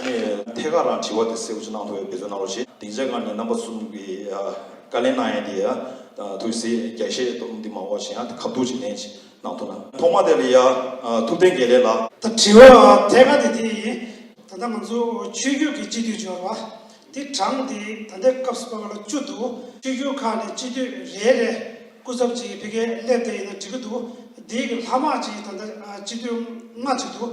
ངས་ཐད་ཀར་རང་དྲི་བ་དེ་གསལ་པོ་ཞིག་གནང་ཐུབ་པའི་འབད་བརྩོན་གནང་རོགས་ཞེས་སྡིངས་ཆའི་སྒང་ནས་རྣམ་པ་གསུམ་གྱི་བཀའ་ལན་གནང་ཡས་དེ་ཡ་ཐུགས་བསེ་རྒྱ་བཤད་སྟོབས་འདི་མ་འོག་ཞེ་ཡང་དེ་ཁ་བསྡུར་བྱེད་ལན་ཅིག་གནང་ཐུབ་ན་ཐོག་མ་དེ་ལ་ཡ་ཐུགས་བསྟན་དགེ་ལེགས་ལགས། ད་དྲི་བ་ཐད་ཀར་དེ་དེ་ཡིན། ད་ལྟ་ང་ཚོ་ཆོས་རྒྱུད་ཀྱི་སྤྱི་འཐུས་འབྱོར་བ་དེ་གྲངས་དེ་ད་ལྟའི་སྐབས་སུ་བར་ལ་བཅུ་འདུག་ཆོས་རྒྱུད་ཁག་ནས་སྤྱི་འཐུས་རེ་རེ་སྐུ་ཚབ་ཅིག་ཕེ་ཁེ་སླེབས་དེ་ཡིན་ན་འགྲིག་གི་འདུག་འདིའི་ལྷ་དམག་ཅིག་ད་ལྟ་སྤྱི་འཐུས་ལྔ་ཅིག་འདུག་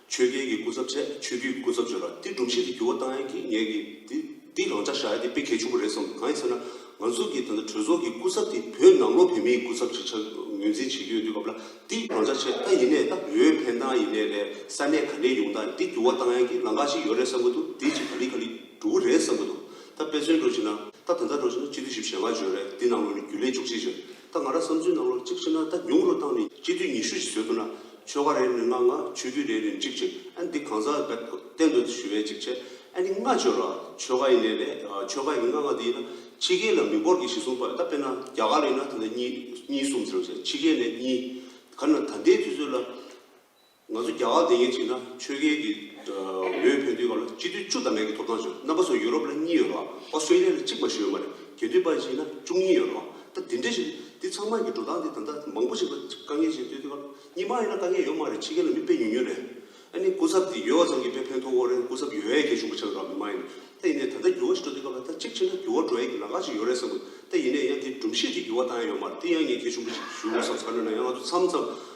ཆོས་རྒྱལ་གྱི་སྐུ་ཚབ་ཚད་ཆོས་རྒྱུད་ཀྱི་སྐུ་ཚབ་བྱོས་ལ་དེ་སྒྲུབ་བྱེད་དུ་འགྱུར་བ་བཏང་ཡང་གིས་ངས་གིས་དེ་འདི་རང་འཇགས་བཞག་ཡ་དེ་དཔེ་གལ་ཆུང་པོ་རེད་བསམ་འདུག་གང་ཡིན་ཟེར་ན་ང་ཚོ་གིས་ད་ལྟ་གྲོས་ཚོགས་ཀྱི་སྐུ་ཚབ་དེ་བོད་ནང་ལོག་བོད་མི་ཡི་སྐུ་ཚབ་ཅིག་ཆགས་ངོས་འཛིན་བྱེད་ཀྱི་ཡོད་དུས་སྐབས་ལ་དེ་རང་འཇགས་བྱས་ད་ཡིན་ནས་ད་བོད་ཕན་ཐང་ཡིན་ནས་རེད་ས་གནས་ག་ནས་ཡོང་ད་འདི་འགྱུར་བ་བཏང་ཡང་གིས་ལང་ཀ་ཞིག་ཡོད་རེད་བསམ་གྱི་འདུག་དེ་ཅིག་ག་ལི་ག་ལི་འགྲོ་གི་རེད་བསམ་གྱི་འདུག་ད་དཔེ་མཚོན་སྒྲོག་བྱེད་ན་ད་དེ་འདྲ་སྒྲོག་བྱེད་ན་སྤྱི་འཐུས་ཞིབ་བཤེར་བ་བྱོས་རེད་དེ་ནང་ལོག་ནས་རྒྱུ་ལས་འཇོག་བྱེད་ཅིག་ད་ང་རང་བསམ་ཚུལ་ནང་ལོ་གཅིག་ཕྱི་ན་ད་ཉུང་རུ་བཏང་ནས་སྤྱི་འཐུས་ཉི་ཤུ་ཞིག་བཟོས་འདུག་ན་ཆོལ་ཁ་རེ་རེ་ནས་ལྔ་ལྔ་ཆོས་འཐུས་རེ་རེ་ནས་གཅིག་གཅིག་ཨ་འདི་གང་ཟག་གི་བསྟན་དོན་དུ་ཞུ་བའི་གཅིག་བྱས་ཨ་ནི་ལྔ་བྱོས་ལ་ཆོལ་ཁ་ཡིན་ནའི་ལས་ཆོལ་ཁ་ཡི་ལྔ་ལྔ་དེ་ཡིན་ན་ཕྱི་རྒྱལ་ལ་མི་འབོར་གྱི་གཞི་གསུམ་པ་ད་དཔེར་ན་རྒྱ་གར་ལ་ཡིན་ན་ད་གཉིས་གཉིས་གསུམ་ཟེར་བ་བྱས་ཕྱི་རྒྱལ་ནས་གཉིས་ག་ནང་ད་ལྟའི་དུས་ཚོད་ལ། ང་ཚོ་རྒྱ་གར་འདི་ཉིད་ཅིག་ན་ཆོས་རྒྱལ་གྱི་འོས་འཕེན་དུས་སྐབས་ལ་སྤྱི་འཐུས་བཅུ་དང་མེད་ཀྱི་ཐོབ་ཐང་བྱུང་རྣམ་པ་ཚོ་ཡུ་རོབ་ལ་གཉིས་ཡོད་རེད་བ་ཨོ་སི་ཏྲེ་ལི་ཡ་ལ་གཅིག་མ་ཞིག་ཡོད་མ་རེད་དགེ་འདུན་པ་ཅིག་ན་བཅུ་གཉིས་ཡོད་རེད་བ་ད་འདི་འདྲ་ཞིག་འདི་ཚང་མ་ཀྱི་འགྲོ་སྟངས་འདི་ད་ལྟ་མང་པོ་ཞིག་ལ་དཀའ་ངལ་ཅིག་སྟོན་དུས་སྐབས་གཉིས་མ་ཡིན་ན་དཀའ་ངལ་ཡོད་མ་རེད་ཕྱི་རྒྱལ་ལ་མི་དཔེ་ཉུང་ཉུང་རེད་ཨ་ནི་སྐུ་ཚབ་འདི་ཡོད་བ་ཙམ་གྱིས་དཔེ་ཕན་ཐོག་གོ་རེད་སྐུ་ཚབ་ཡོད་ཡས་ཀྱི་ཞུགས་པ་ཆགས་ཀྱི་ར་མི་མ་ཡིན་ད་ཡིན་ནའི་ད་ལྟ་འགྱུར་བ་ཞིག་འགྲོ་དུས་སྐབས་ལ་ད་གཅིག་ཕྱིན་ན་འགྱུར་བ་འགྲོ་ཡས་ཀྱི་ལག་ཁ་ཅིག་ཡོད་རེད་བསམ་དགོས་ད་ཡིན་ནའི་ཡང་འདི་སྒྲུམ་བཤད་ཀྱིས་འགྱུར་བ་བཏང་ཡས་ཡོད་མ་རེད་འདི་ཡང་ངས་ཀྱི་ཞུགས་པ་ཅིག་ཞུ་དགོས་བསམ་ས་ན་ཡང་ང་ཚོ་མཚམས་མཚམས།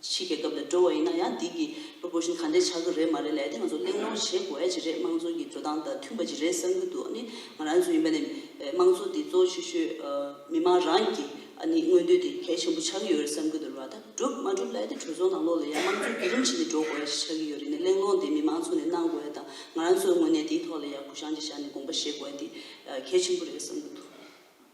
ཕྱིས་རྒྱལ་ཁབ་ལ་འགྲོ་བ་ཡིན་ན་ཡང་འདི་གི་ལོ་འགོར་བཞིན་ག་འདྲས་ཆགས་ཀྱི་རེད་མ་རེད་ལས་དེ་ང་ཚོ་གླེང་སློང་བྱེད་དགོས་ཀྱི་རེད་དམངས་གཙོ་གི་འགྲོ་སྟངས་དང་མཐུན་པ་ཅིག་རེད་བསམ་གྱི་འདུག་ཨ་ནི་ང་རང་ཚོ་ཡིན་པ་ནས་དམངས་གཙོ་འདི་གཙོ་ཆེ་ཤོས་མི་དམངས་རང་གི་ཨ་ནི་མངོན་འདོད་དེ་གལ་ཆེན་པོ་ཆགས་ཀྱི་ཡོད་རེད་བསམ་གྱི་འདུག་རེད་བ་ད་སྒྲུབ་མ་སྒྲུབ་ལས་དེ་གྲོས་ཚོགས་ནང་ལོགས་ལ་ཡང་དམངས་གཙོ་བརྒྱུད་རིམ་བྱས་ནས་འགྲོ་དགོས་ཡ་ཞིག་ཆགས་ཀྱི་ཡོད་རེད་ནས་གླེང་སློང་དེ་མི་དམངས་ཚོ་ནས་གནང་དགོས་ཡ་དང་ང་རང་ཚོའི་ངོས་ནས་དེའི་ཐོག་ལ་ཡང་གུ་བཤངས་ཅིག་བཞག་ནས་དགོངས་པ་བཞེས་དགོས་ཡ་འདི་གལ་ཆེན་པོ་རེད་བསམ་གྱི་འདུག།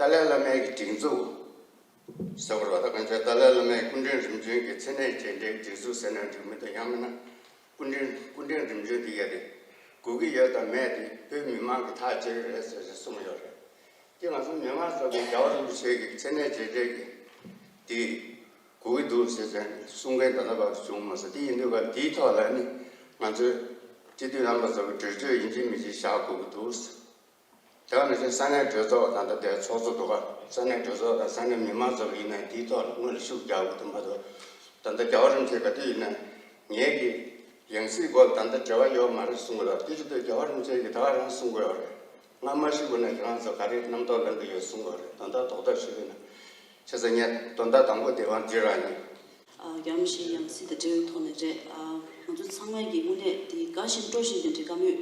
ཏཱ་ལའི་བླ་མའི་སྒྲིག་འཛུགས་ཟེར་བ་ལ་ད་གོན་བྱས་ཏཱ་ལའི་བླ་མའི་སྐུ་འཕྲེང་རིམ་བྱོན་གྱི་མཚན་གནས་བྱས་འབྲས་སྒྲིག་འཛུགས་ཟེར་ན་འགྲིག་མི་འདུག་ཡང་མིན་ན་སྐུ་འཕྲེང་སྐུ་འཕྲེང་རིམ་བྱོན་དེ་ཡ་རེད་དགོས་ཀྱི་ཡོད་དམ་མེད་དེ་བོད་མི་མང་གི་ཐག་བཅད་རེད་ཟེར་ཟེར་གསུངས་ཡོད་རེད་ཀྱི་ང་ཚོ་མི་མང་ཚོ་གི་རྒྱ་བ་རིན་པོ་ཆེ་གི་མཚན་གནས་བྱས་འབྲས་ཀྱི་དེ་དགོས་ཀྱི་འདུག་ཟེར་ཟེར་གསུང་མཁན་ད་ལྟ་བར་དུ་བྱུང་མ་སོང་དེ་ཡིན་དུས་ཀ་དེའི་ཐོག་ལ་ནི་ང་ཚོའི་སྤྱི་འཐུས་རྣམ་པ་ཚོ་གི་གྲོས་ཆོད་ཡིན་གཅིག་མིན་གཅིག་བཞག་དགོས་ཀྱི་འདུག་ཟེར་དེ་བ་ནས་བཟུང་ས་གནས་གྲོས་ཚོགས་དང་ཐུབ་བསྟན་ཚོགས་གཙོ་དོ་དགའ་ས་གནས་གྲོས་ཚོགས་དང་ས་གནས་མི་མང་ཚོགས་ཡིན་ནའི་དེའི་ཐོག་ལ་དངོས་ལ་ཤུགས་རྒྱག་དགོས་དོན་མ་ཐུབ། ད་ལྟ་རྒྱ་བ་རིམ་བྱོན་ག་དུས་ཡིན་ན་ངེད་ཀྱི་ཡང་སྲིད་སྐོར་ལ་ད་ལྟ་འབྲེལ་བ་ཡོད་མ་རེད་གསུང་གི་ཡོད་ཀྱི་ཅི་སྟེ་རྒྱ་བ་རིམ་བྱོན་གྱིས་ད་བར་རང་གསུང་གི་ཡོད་རེད། སྔར་མ་ཤི་དགོས་ན་ཁྱེད་རང་ཚོ་ག་རེ་རྣམ་རྟོག་ལངས་གི་ཡོད་གསུང་གི་ཡོད་རེད་དོན་དག་དོག་དོག་ཤི་དགོས་ན། ཆ་ས་ཉེར་བདོ་ཟླ་དང་པོ་སྡེ་བ་འདི་རང་ཡིན། རྒྱ་མོ་ཞིག་ཡང་སྲིད་དང་འབྲེལ་བའི་ཐོག་ནས་རེད། ང་ཚོ་ཚང་མས་ཀྱིས་དངོས་གནས་དེ་དགའ་བཞིན་སྤྲོ་བཞིན་དེ་འདྲའི་དགའ་མོས་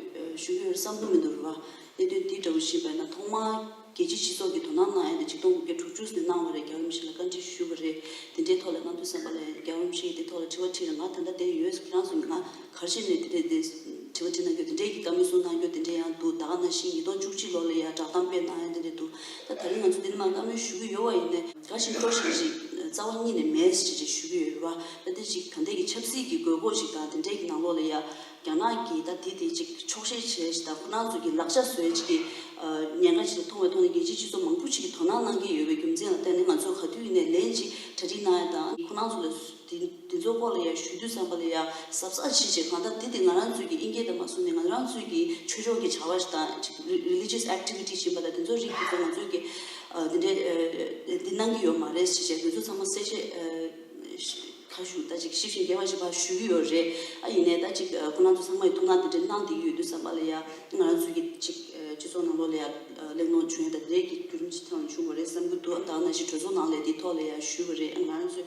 ཞུ་གི་ཡོད་བསམ་གྱི་མི་འདུག་རེད་བ། གནད་དོན་འདི་འདྲ་བོ་ཞིག་པས་ན་ཐོག་མར་རྒྱལ་སྤྱིའི་སྤྱི་ཚོགས་ཀྱི་དོ་སྣང་གནང་ཡ་དེ་གཅིག་སྟོང་དགུ་བརྒྱ་དྲུག་ཅུ་ཟིན་གནང་བ་རེད་རྒྱ་རིམ་ཞིག་ལ་བཀའ་འདྲི་ཞུས་པ་རེད་དེ་འདྲའི་ཐོག་ལ་གནང་དུས་སེམས་པ་ལ་རྒྱ་རིམ་ཞིག་གིས་དེ་ཐོག་ལ་དྲི་བ་དྲིས་ན་ང་ད་ལྟ་བསྡད་ཡོད་ཁྱེད་རང་ཚོ་ང་གར་ཕྱིན་ནས་དེ་འདྲའི་དྲི་བ་དྲིས་གནང་རྒྱུ་དེ་འདྲའི་གི་དགའ་མོས་གསུངས་གནང་རྒྱུ་དེ་འདྲའི་ཡང་འདུག་ད་ག་ན་ཤིང་ཉིས་སྟོང་བཅུ་གཅིག་ལོར་ལ་ཡ་བསྒྲགས་གཏམ་སྤེལ་གནང་ཡ་དེ་འདྲའི་འདུག་ད་ད་རིང་ང་ཚོ་འདི་ནས་མ་བཀའ་མོལ་ཞུ་གི་ཡོད་བ་ཡིན། འགའ་ཞིག་སྤྲོ་ཞིག་ཅིག་རྩ་བ་གཉིས་ནས་མེད་ཅེས་ཞུ་གི་ཡོད་རེད་བ། ད་དེ་ཅིག་ད་འདས་ཀྱི་ཆབ་སྲིད་ཀྱི་དགོས་མཁོ་ཞིག་དང་དེ་འདྲས་ཀྱི་ནང་ལོགས་ལ་ཡ་རྒྱ་ནག་གིས་ད་དེ་དེ་ཅིག་ཆོག་ཤེས་བྱས་ཞེས་དང་ཁོ་ན་ཚོ་གི་ལག་ཆ་བཟོས་ཅིག་གི་ཉེན་ཁ་ཅིག་ཏུ་མཐོང་བས་མཐོང་ནས་རྒྱལ་སྤྱིའི་སྤྱི་ཚོགས་མང་པོ་ཅིག་གིས་དོ་སྣང་གནང་གི་ཡོད་པའི་རྒྱུ་མཚན་ལ་བརྟེན་ནས་ང་ཚོས་ག་དུས་ནས་ལན་ཅིག་གྲ་སྒྲིག་གནང་ཡ་དང་ཁོ་ན་ཚོ་ལ་དེ་ནི་དེ་ཚོ་སྐོར་ལ་ཡང་ཞུས་དུས་བསམ་པ་ལ་ཡང་གཟབ་གཟབ་བྱེད་བྱེད་གང་ལྟར་དེ་དེ་ང་རང་ཚོས་ཀྱི་དབྱིན་སྐད་དུ་མ་གསུངས་ནས་ང་རང་ཚོས་ཀྱི་ཆོས་ཕྱོགས་ཀྱི་བྱ་བ་དང Religious Activity བྱིན་པ་དང་དེ་ཚོ་རིགས་དེ་ཚོ་ང་ཚོས་ཀྱི་དེ་འདྲའི་འདི་གནང་གི་ཡོད་མ་རེད་བྱེད་བྱེད་དེ་ཚོ་ཚང་མ་གསལ་བཤད་ཁ་ཞུ་ད་ཅིག་ཞིབ་བཞིན་རྒྱས་པ་ཞིག་ཕར་ཞུས་ཀྱི་ཡོད་རེད་ཨ་ཡིན་ནའི་ད་ཅིག་ཁོ་རང་ཚོ་ཚང་མ་ཡི་ཐུགས་སྣང་དེ་འདྲ་གནང་དེ་ཡི་ཡོད་དུས་བསམ་པ་ལ་ཡང་ང་རང་ཚོས་ཀྱི་ཅིག་སྤྱི་ཚོགས་ནང་ལོགས་ལ་ཡང་གླེང་སློང་བྱུང་ཡོད་ད་དེ་འདྲའི་ཀྱི་བརྒྱུད་རིམ་ཞིག་ཐེངས་ལ་བྱུང་བ་རེད་བསམ་གྱི་འདུག་ཨ་ད་ང་ཞིག་གྲོས་ཚོགས་ནང་ལས་དེའི་ཐོག་ལ་ཡང་ཞུས་པ་རེད་ཨ་ང་རང་ཚོས་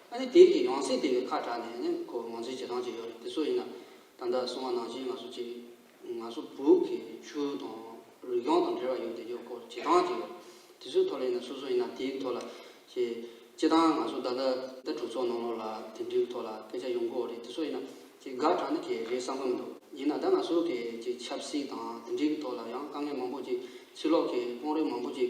ཨ་ནི་དེའི་གི་ཡང་སྲིད་དེ་ཡོད་ཁ་གྲགས་ནས་ནི་ཁོ་མང་ཚིག་བྱེད་སྟངས་ཅིག་ཡོད་རེད་དེ་སུ་ཡིན་ན་ད་ལྟ་སྲུང་བ་ནང་བཞིན་ང་སུ་གཅིག་ང་སུ་བུ་གི་ཆོས་དང་རིག་གཞུང་དང་འབྲེལ་བ་ཡོད་དེ་ཡོད་སྐོར་བྱེད་སྟངས་ཅིག་ཡོད་རེད་དེ་སུའི་ཐོག་ལ་ཡིན་ན་སུ་སུ་ཡིན་ན་དེའི་ཐོག་ལ་ཞེས་སྤྱི་བཏང་ང་སུ་ད་ལྟ་ད་གྲོས་ཚོགས་ནང་ལོགས་ལ་དེ་འདྲའི་ཐོག་ལ་སྐད་ཆ་ཡོང་དགོས་རེད་དེ་སུ་ཡིན་ན་ཅིག་དགག་དྲག་ནི་གལ་རེད་བསམ་གི་མི་འདུག་ཡིན་ན་ད་ང་སུ་གི་ཅིག་ཆབ་སྲིད་དང་དེ་འདྲའི་གི་ཐོག་ལ་ཡང་དཀའ་ངལ་མང་པོ་ཅིག་ཕྱི་ལོགས་གི་དཔོང་རིགས་མང་པོ་ཅིག་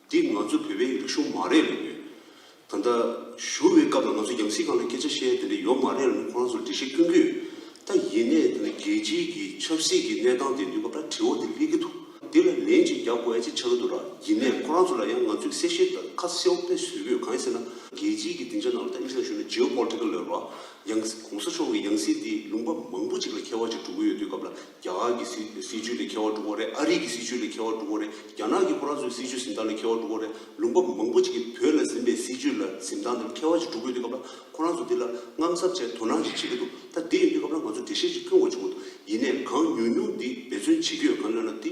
འདི་ང་ཚོ་བོད་པའི་རིག་གཞུང་མ་རེད་ལབ་ཡོད། ད་ལྟ་ཞུ་བའི་སྐབས་ལ་ང་ཚོ་རྒྱང་སྲིད་ཁང་ལ་སྐད་ཆ་བཤད་དེ་འདྲ་ཡོད་མ་རེད་ལབ་ནས་ཁོ་རང་ཚོར་འདྲི་བཤད་བསྐྱོན་གྱི་ཡོད། ད་ཡིན་ནས་ད་ནི་རྒྱལ་སྤྱིའི་གི་ཆབ་སྲིད་ཀྱི་གནས་སྟངས་དེ་འདུས་སྐབས་ད་དྲི་བ་དེ་སླེབས་ཀྱི་འདུག་འདི་ལ་ལན་ཅིག་རྒྱག་དགོས་ཨེ་ཅིག་ཆགས་ཀྱི་འདུག་ད་ཡིན་ནས་ཁོ་རང་ཚོ་ལ་ཡང་ང་ཚོས་གསལ་བཤད་དང་ཁ་གསལ་བོ་དཔེ་བཟོས་ཡོད་གང་ཡིན་ཟེར་ན། རྒྱལ་སྤྱིའི་གི་སྡིངས་ཆ་ནང་ལ་ད་ཨིན་ཞོག་ཞུ་ན Geopolitical Level ལ། ཡང ྋགོང་ས་མཆོག་གི་ཡང་སྲིད་དེ་ལུང་པ་མང་པོ་ཅིག་ལ་ཁྱད་བར་ཅིག་གྲུབ་ཀྱི་ཡོད་དུས་སྐབས་ལ། རྒྱ་གར་གྱི་སྲིད་སྲིད་བྱུས་ལས་ཁེ་བ་བསྒྲུབ་པ་རེད་ཨ་རིག་གི་སྲིད་བྱུས་ལས་ཁེ་བ་བསྒྲུབ་པ་རེད་རྒྱ་ནག་གི་ཕོ་བྲང་ཚོའི་སྲིད་བྱུས་གཟིམས་ཐང་ལས་ཁེ་བ་བསྒྲུབ་པ་རེད་ལུང་པ་མང་པོ་ཅིག་གིས་བོད་ལ་གཟིམས་པའི་སྲིད་བྱུས་ལ་གཟིམས་ཐང་དེ་ལ་ཁེ་བ་ཅིག་བསྒྲུབ་དགོས་དུས་སྐབས་ལ་ཁོ་རང་ཚོ་འདི་ལ་དངངས་འཚབ་བྱས་དོ་སྣང་ཞིག་བྱེད་ཀྱི་འདུག་ད་འདི་ཡོང་དུས་སྐབས་ལ་ང་ཚོ་འགྲེལ་བཤད་ཅིག་སྐྱོན་འོག་བྱུང་བ་འདུག་ཡིན་ནས་གང་ཉུང་ཉུང་འདི་འབད་བརྩོན་བྱེད་རྒྱུ་ཡོད་གང་ཡོད་ན་དེ་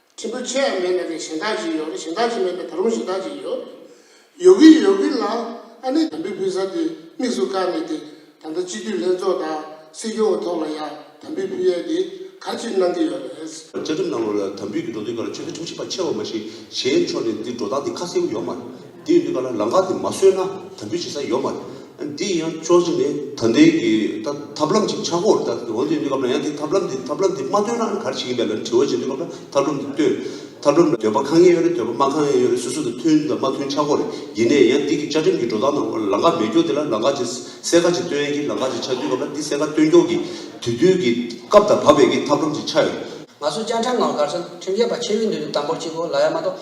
ཕྲན་བུ་ཆོས་ཡ་མེད་ན་དེ་གཞན་དག་ཅིག་ཡོད་གཞན་དག་ཅིག་མེད་ན་ད་རུང་གཞན་དག་ཅིག་ཡོད། ཡོད་གི་ཡོད་གི་ལ་ཨ་ནི་དམ་བི་བི་ས་དེ་དམིགས་སུ་བཀར་ནས་དེ་ད་ལྟ་སྤྱི་འཐུས་ལྷན་ཚོགས་དང་སྲིད་སྐྱོང་གི་ཐོག་ལ་ཡ་དམ་བི་བི་ཡས་དེ་ག་ཅིག་གནང་གི་ཡོད་རེད། བཅའ་ཁྲིམས་ནང་ལོ་ལ་དམ་བི་གི་འགྲོ་དོན་ག་རུ་ཆོལ་ཁའི་ཁྲིམས་ཞིབ་པ་ཆེ་བ་མ་གཞི་གཞན་ཕྱོགས་ནས་འདི་འགྲོ་སྟངས་འདི་ཁ་གསལ་བོ་ཡོད་མ་འདིའི་ནུས་པ་ལ་ལང་ཀ་དེ་མ་བཟོས་ན་དམ་འབུལ་བྱེད་ས་ཡོད་མ་རེད། འདི་ཡིན་ཡང་ཆོག་ཅི་ནས་ད་ལྟའི་གི་ད་ཐབས་ལམ་ཅིག་ཆག་གོ་ད་འོན་ཏེ་གནས་སྐབས་ལ་ཡང་དེ་ཐབས་ལམ་དེ་ཐབས་ལམ་དེ་མ་བཏོན་ན་ག་རེ་བྱེད་ཀྱིན་པའི་ལ་ནི་དྲི་བ་བྱེད་འདོད་སྐབས་ལ་ཐབས་ལམ་དེ་བཏོན། ཐབས་ལམ་འདོད་པ་གང་ཡིན་ཡོད་རེད་འདོད་པ་མ་གང་ཡིན་ཡོད་རེད་སོ་སོ་དང་མཐུན་དང་མ་མཐུན་ཆག་གོ་རེད་ཡིན་ནས་ཡང་འདི་གི་བཅའ་ཁྲིམས་ཀྱི་འགྲོ་སྟངས་ནང་ལང་ཀ་མེད་སྐྱོག་འདི་ལ་ལང་ཀ་ཅིག་གསལ་ཁ་ཅིག་བཏོན་ཡན་གྱི་ལང་ཀ་ཅིག་ཆག་དུས་སྐབས་ལ་འདི་གསལ་ཁ་བཏོན་སྐྱོག་གི་དུས་བསྟུན་གི་སྐབས་ད་བབས་པའི་གི་ཐབས་ལམ་ཅིག་ཆག་ཡོད། ང་ཚོ་བཅའ་ཁྲིམས་ནང་ལ་གར་སོང་ཁྲིམས་ཆད་པ་ཆེ་བའི་འདོད་འདོད་དམ་པོར་གཅིག་གོ་ལ་ཡ་མ་གཏོགས།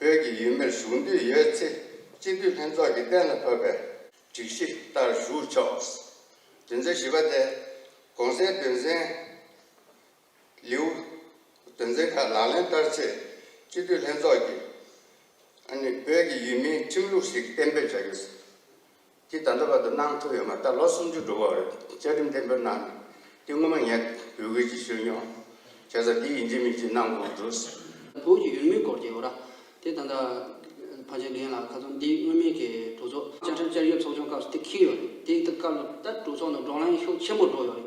བོད་ཀྱི་ཡུལ་མིར་ཞུགས་འདོད་ཡོད་ཚེ་སྤྱི་འཐུས་ལྷན་ཚོགས་ཀྱི་གཏན་ལ་ཕབ་པའི་སྒྲིག་གཞི་ལྟར་ཞུགས་ཆོག། དོན་ཚན་བཞི་པ་སྟེ། གོང་གསལ་དོན་ཚན། ལེའུ། དོན་ཚན་ཁག་ལག་ལེན་བསྟར་ཚེ་སྤྱི་འཐུས་ལྷན་ཚོགས་ཀྱིས་ཨ་ནི་བོད་ཀྱི་ཡུལ་མིའི་ཁྲིམས་ལུགས་ཤིག་གཏན་འབེབས་བྱ་རྒྱུ། དེ་ད་ལྟ་བར་དུ་གནང་ཐུབ་ཡོད་མ་རྟགས་ལོ་སུམ་ཅུ་འགྲོ་བར་བཅའ་ཁྲིམས་གཏན་འབེབས་གནང་ནས་དེ་སྔོན་མ་ངས་བོད་ཁུལ་གྱི་ཤོད་ཉོག་བྱས་ས་འདི་ཡིན་གཅིག་མིན་གཅིག་གནང་དགོས་འགྲོ་ཟེར། བོད་ཀྱི་ཡུལ་མིའི་སྐོར་གྱི་འོ་ར་དེ་ད་ལྟ་བར་ཆད་འགེངས་ལ་ག་ཚོད་འདི་མངོན་མིན་གྱི་གྲོས་ཚོགས་བཅའ་ཁྲིམས་བསྐྱར་བཅོས་ཚོགས་ཆུང་སྐབས་སུ་དེ་འཁེལ་ཡོད་རེད་དེ་ལྟ་སྐབས་ལོ་ལྟར་གྲོས་ཚོགས་ནང་བགྲོ་གླེང་ཤུགས་ཆེན་པོ་འགྲོ་ཡོད་རེད་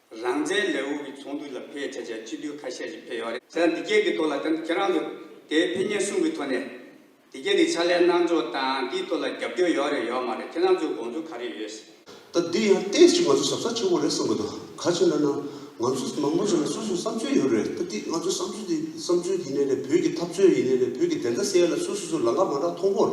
རང་བཙན་ལས་དབུ་གི་ཚོགས་འདུ་ལ་ཕེབས་བྱ་བྱ་སྤྱི་འཐུས་ཁ་ཤས་ཤིག་ཕེབས་ཡོད་རེད། ཟེར་ན་འདི་སྐད་ཀྱི་ཐོག་ལ་ཁྱེད་རང་ཚོ་དེའི་ཕན་ཉེན་གསུང་གི་ཐོག་ནས། འདི་སྐད་དེ་ཕྱག་ལས་གནང་ཕྱོགས་དང་དེའི་ཐོག་ལ་རྒྱབ་སྐྱོར་ཡོད་རེད་ཡོད་མ་རེད་ཁྱེད་རང་ཚོའི་དགོངས་ཚུལ་ག་རེ་ཡོད་ཟེར། ད་འདི་ཡང་བལྟས་ཤིག་ང་ཚོ་ཞབས་ས་ཆེན་པོ་རེད་གསུང་གི་འདུག་ག་ཕྱིར་འདྲ་ན། ང་ཚོ་མང་པོ་ཞིག་ལ་སོ་སོའི་བསམ་ཚུལ་ཡོད་རེད་ད་འདི་ང་ཚོའི་བསམ་ཚུལ་འདི་བསམ་ཚུལ་ཡིན་ནའི་རེད་བོད་ཀྱི་འཐབ་རྩོད་ཡིན་ནའི་རེད་བོད་ཀྱི་བདེན་མཐའ་གསལ་ཡོད་ལ་སོ་སོ་སོའི་ལང་ཀ་མང་དྲག་མཐོང་སྤོར་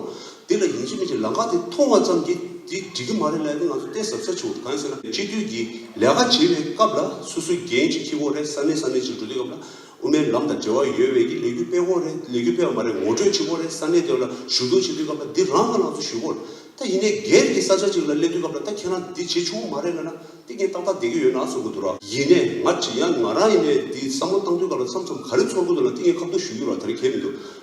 འདི་ལ་ཉིན་གཅིག་མི་གཅིག་ལམ་ཁ་དེ་མཐོང་བ་ཙམ་གྱིས་འདི་འགྲིག་གི་མ་རེད་ལབ་ནས་ང་ཚོ་གཏན་ཟབ་ས་བྱུང་འདུག་གང་ཡིན་ཟེར་ན་སྤྱི་འཐུས་ཀྱི་ལས་ཀ་བྱེད་པའི་སྐབས་ལ་སོ་སོའི་འགན་གཅིག་ཁྱི་གོང་རེ་ས་གནས་ས་གནས་གཅིག་འགྲོ་དུས་སྐབས་ལ་དབུ་མའི་ལམ་དང་འབྲེལ་བ་ཡོད་བས་ཀྱི་ལས་འགུལ་སྤེལ་གོང་རེ་ལས་འགུལ་སྤེལ་བ་མ་རེད་ངོ་སྤྲོད་བྱེད་གོང་རེ་ས་གནས་དེ་བ་ལ་ཞུ་གཏུག་བྱེད་དུས་སྐབས་ལ་འདི་རང་གི་ལང་ཚོ་ཞུ་གོ་ད་ཡིན་ནའི་སྒེར་གྱི་ས་ཆ་གཅིག་ལ་སླེབས་དུས་སྐབས་ལ་ད་ཁྱེད་རང་འདི་བྱེད་བྱུང་མ་རེད་ལབ་ན་འདི་ངས་ཏག་ཏག་བསྡད་ཀྱི་ཡོད་ན་ཚོར་གི་འདུག་ར། ཡིན་ནའི་ང་བྲིས་ཡང་ང་རང་ཡིན་ནའི་འདི་བསམ་བློ་བཏང་དུས་སྐབས་ལ་མཚམས་མཚམས་ག་རེ་ཚོར་གི་འདུག་ལ་འདི་ངས་ཁ་བསྡུ་ཞུ་རྒྱུ་ར་ད་རེ་གལ་མི་འདུག།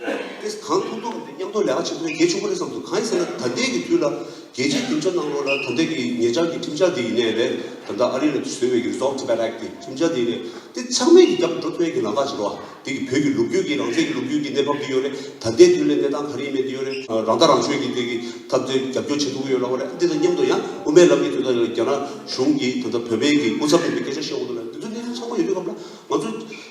ཨེ་ཟི་གང་ཐུག་ཐུག་གི་མཉམ་འཐོར་ལས་ཀ་ཆེན་པོ་རེ་གལ་ཆེན་པོ་རེ་བསམ་འདུག་གང་ཡིན་ཟེར་ན་ད་ལྟའི་གི་དུས་ལ་རྒྱལ་སྤྱིའི་གྲིམ་བྱ་གནང་རོགས་ལ་ད་ལྟའི་གི་ངེད་ཅག་གི་གྲིམ་བྱ་དེ་ཡིན་ནའི་རེད་ད་ལྟ་ཨ་རི་ལ་བཟོས་བའི་གི Resolve Tibet Act དེ་གྲིམ་བྱ་དེ་རེད་དེ་ཚང་མས་གི་རྒྱབ་ཏུ་འགྲོ་ཐུབ་ཡས་གི་ལང་ཀ་བྱེད་རོགས་ཨ་དེ་གི་བོད་གི་ལུགས་རྒྱུད་གི་རང་བཙན་གི་ལུགས་རྒྱུད་གི་གནས་བབ་དེ་ཡོད་རེད་ད་ལྟའི་དུས་ལ་གནས་སྟངས་ག་རེ་ཡིན་མེད་དེ་ཡོད་རེད་རང་ལྟ་རང་ཆོས་གི་དེ་གི་ཐབས་དེ་རྒྱབ་སྐྱོར་བྱེད་འདུག་གི་ཡོད་ལ་བ་རེད་འདི་དང་མཉམ་དུ་ཡང་དབུ་མའི་ལམ་གི་དུས་ད་ལྟ་རྒྱ་ནག་གཞུང་གིས་ད་ལྟ་བོད་པའི་གི་སྐུ་ཚབ་ཡིན་པའི་སྐད་ཆ་བཤད་འོང་འདུག་ལ་འདི་ཚོ་གནས་ཚུལ་ཚང་མ་ཡོད་པའི་སྐབས་ལ་ང་ཚོ།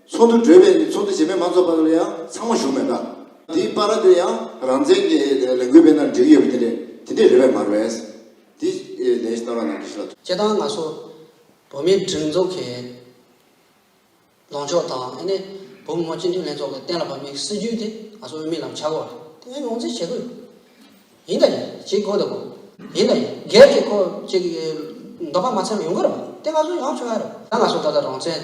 ཚོགས་འདུ་གྲོལ་བས་ནི་ཚོགས་འདུ་རྗེས་མའི་མང་ཚོགས་པ་ལ་ཡང་ཚང་མ་ཞུགས་མེད་པ། དེའི་པར་ར་དེ་ཡང་རང་བཙན་གྱི་ལས་འགུལ་པའི་ནང་བསྒྲིགས་ཡོད་པ་དེ་འདྲས་དེ་འདྲས་རེད་བས་མ་རེད། དེ་ལས་གནང་རོགས་གནང་གསུངས། ཁྱེད་དང་ང་སོགས་བོད་མིའི་སྒྲིག་འཛུགས་ཀྱི་ལངས་ཕྱོགས་དང་ཨ་ནེ་བོད་མི་མང་སྤྱི་འཐུས་ལྷན་ཚོགས་ཀྱི་གཏན་ལ་ཕབ་མེད་སྲིད་བྱུས་དེ་ང་ཚོ་དབུ་མའི་ལམ་བྱ་དགོས་རེད་དེ་ཡང་ངོས་འཛིན་བྱེད་དགོས་ཡིན་ཡིན་དང་ཡིན་བྱེད་དགོས་ད་གོ། ཡིན་དང་ཡིན་སྒེར་གྱི་ཁོ་གཅིག་གི་འདོད་པ་མ་ཚར་བ་ཡོང་གི་རེད་པ་དེ་ང་ཚོ་ཡང་ཆོག་ཡ་རེད། ད་ང་སོགས་ད་ལྟ་རང་བཙན།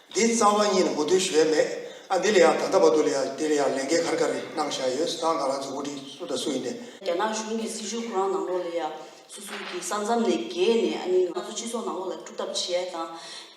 འདི་རྩ་བ་གཉིས་ལ་མུ་མཐུད་ཞུ་ཡ་མེད་ཨ་འདི་ལ་ཡང་ད་ལྟ་བར་དུ་ལ་ཡང་འདི་ལ་ཡང་ལས་འགན་གར་གར་རེ་གནང་བཞག་ཡོད་སང་གང་ལ་འཛུགས་འགོ་ཁྲིད་སུ་དང་སུ་ཡིན་ནས། རྒྱ་ནག་གཞུང་གི་སྲིད་བྱུས་ཁོ་རང་ནང་ལོགས་ལ་ཡང་སུ་སུ་གི་ས་མཚམས་ནས་བརྒལ་ནས་ཨ་ནི་ང་ཚོ་སྤྱི་ཚོགས་ནང་ལོགས་ལ་སྐྲུག་ཐབས་བྱེད་ཡ་དང་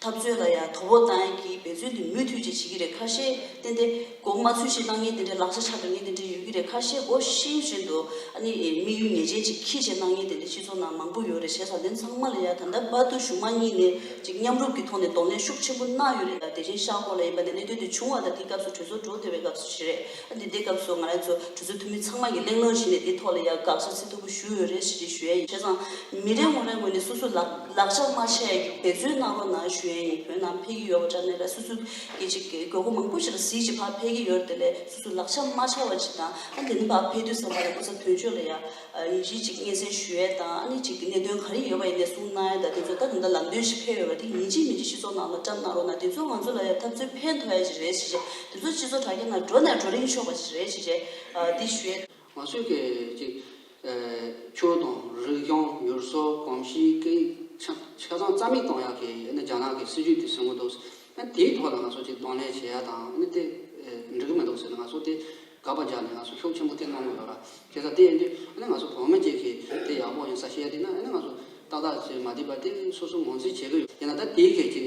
ཐབས་རྩོད་ལ་ཡང་དོ་བོ་གཏང་ཡ་གི་འབད་བརྩོན་དེ་མུས་མཐུད་ཅིག་བྱེད་ཀྱི་རེད་ཁ་ཤས་བསྟན་ཏེ། གོང་མ་ཚུལ་བཞིན་གནང་ཉིན་དེ་འདྲའི་ལག་ཆ་ཆག་པའི་ཉིན་དེ་འདྲའི་ཡོད་ཀྱི་རེད་ཁ་ཤས་སྒོ་ཤིང་བཞིན་དུ་ཨ་ནི་དམིགས་ཡུལ་ངེས་ཅན་ཅིག་གིས་བྱས་གནང་ཉིན་དེ་འདྲའི་སྤྱི་ཚོགས་ནང་མང་པོ་ཡོད་རེད་བྱས་ཟ་དེ་ཚང་མ་ལ་ཡ་ད་འདབ་བར་དུ་གཞུང་མང་གཉིས་ནས་ཅིག་མཉམ་རུབ་ཀྱི་ཐོག་ནས་གདོང་ལེན་ཤུགས་ཆེན་པོ་གནང་ཡོད་རེད་ཡ་དེ་བཞིན་ཤག་སྐོར་ལ་ཡིན་པ་ནས་གནད་དོན་དེ་བྱུང་བ་དང་དེའི་སྐབས་སུ་གྲོས་ཚོགས་གྲོལ་བདེ་བའི་སྐབས་སུ་ཞིག་རེད་ཨ་འདི་ལྟའི་སྐབས་སུ་ང་རང་ཚོ་གྲོས་ཚོགས་འཐུས་མི་ཚང་མ་གིས་གླེང་སློང་བྱས་ནས་དེའི་ཐོག་ལ་ཡ་དགག་བྱ་ཚིག་ཐོར་བུ་ཞུ་འོས་རེད་ཞེས་ཅིག་ཞུ་ཡ་ཡིན་བྱས་ཙང་མི་རེ་ངོ་རེ་ངོས་ནས་སོ་སོའི་ལག་ལག་ཆ་དམར་ཆས་འབད་བརྩོན་གནང་རོགས་གནང་ཞུ་ཡ་ཡིན་བོད་ནང་འཕེལ་གྱི་ཡོད་བ་འདྲ་ནས་ལ་སོ་སོའི། སྐད་ཅིག་གིས་དགོས་མཁོ་མང་པོ་ཞིག་ལ་གཟི་བརྗིད་འཕར་འཕེལ་གྱི་ཡོད་དེ་ལས་སོ་སོའི་ལག་ཆ་མ་འཆའ་བ་ཅིག་དང་ཨ་དེ་ནི་འབག་འཕེལ་དུས་བསམ་པ་ལས་སྐུ་ཚབ་དོན་གཅོད་ལ་ཡང་ཡིད་ཆེས་ཅིག་སྙན་སེང་ཞུ་ཡས་དང་ཨ་ནི་ཅིག་གི་གནད་དོན་ག་རེ་ཡོད་པ་ཡིན་ནས་གསུང་གནང་ཡས་དང་དེ་ཚོ་ད་དེ་འདྲ་ལམ་སྟོན་ཞིག་ཕེབས་ཡོད་པ་དེ་ཉིན་གཅིག་མི་འགྲིག་སྤྱི་ཚོགས་ནང་ལ་བཀྲམ་གནང་རོགས་གནང་དེ་ཚོ་ང་ཚོ་ལ་ཡང་ཐབས་རྩོད་ཕན་ཐོགས་ཡས་ཅིག་རེད་ཅེས་བཤད་དེ་ཚོ་སྤྱི་ཚོགས་དྲ་རྒྱ་ནང་འགྲོ་ནས་འགྲོ་རིན་ཆོག་པ་ཞིག་རེད་ཅེས་བཤད་འདི་ཞུ་ཡས། ང་ཚོས་སྐད་ཅིག་ཆོས་དང་རིག་གཞུང་བསྒྱུར་བཟོ་གོམས་གཤིས་ཀྱི་ཆ་ཚང་རྩ་མེད་གཏོང་ཡག་གི་རྒྱ་ནག་གི་སྲིད་ཇུས་དེ་ཟིན་གོ་འདུག་དེའི་ཐོག་ལ་ང་ཚོ་ཅིག་གདོང་ལེན་བྱེད་ཡག་དང་དེ་འགྲིག་གི་མི་འདུག་ཟེར་ན་ང་ཚོ་དེ་དགག་པ་རྒྱག་ནས་ང་ཚོ་ཤུགས་ཆེན་པོ་དེ་གནང་གི་ཡོད་ར་དེ་ལྟར་དེ་ཡིན་དུས་ང་ཚོ་བོད་མི་གཅིག་གིས་དེ་ཡག་པོ་ཡིན་ས་བཤད་དུས་ན་ང་ཚོ་ཏག་ཏག་ཅིག་མ་འགྲིག་པ་དེ་སོ་སོ་ངོས་འཛིན་བྱེད་ཀྱི་ཡོད་དེ་ན་ད་དེའི་སྐད་ཅིག་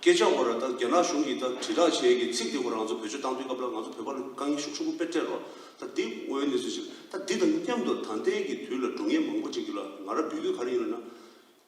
སྐད་ཆ་འོ་ར་ལྟར་རྒྱ་ནག་གཞུང་གིས་ད་དྲིལ་བསྒྲགས་བྱས་ཀྱི་ཚིག་དེ་འོ་རང་ཚོ་བོད་ཆོས་བཏང་དུས་སྐབས་ལ་ང་ཚོ་བོད་པ་ལ་དཀའ་ངལ་ཤུགས་ཆུང་པོ་དཔེར་སྤྲད་རོགས་ད་འདི་དངོས་གནས་ཚུལ་ཞིག་ད་འདི་དང་མཉམ་དུ་ད་ལྟའི་གི་དུས་ལ་འགྲོ་ངེས་མང་པོ་ཅིག་ཡོད་ལ་ང་ར་འབུད་དུས་ག་རེ་ཡོད་ལ་ན།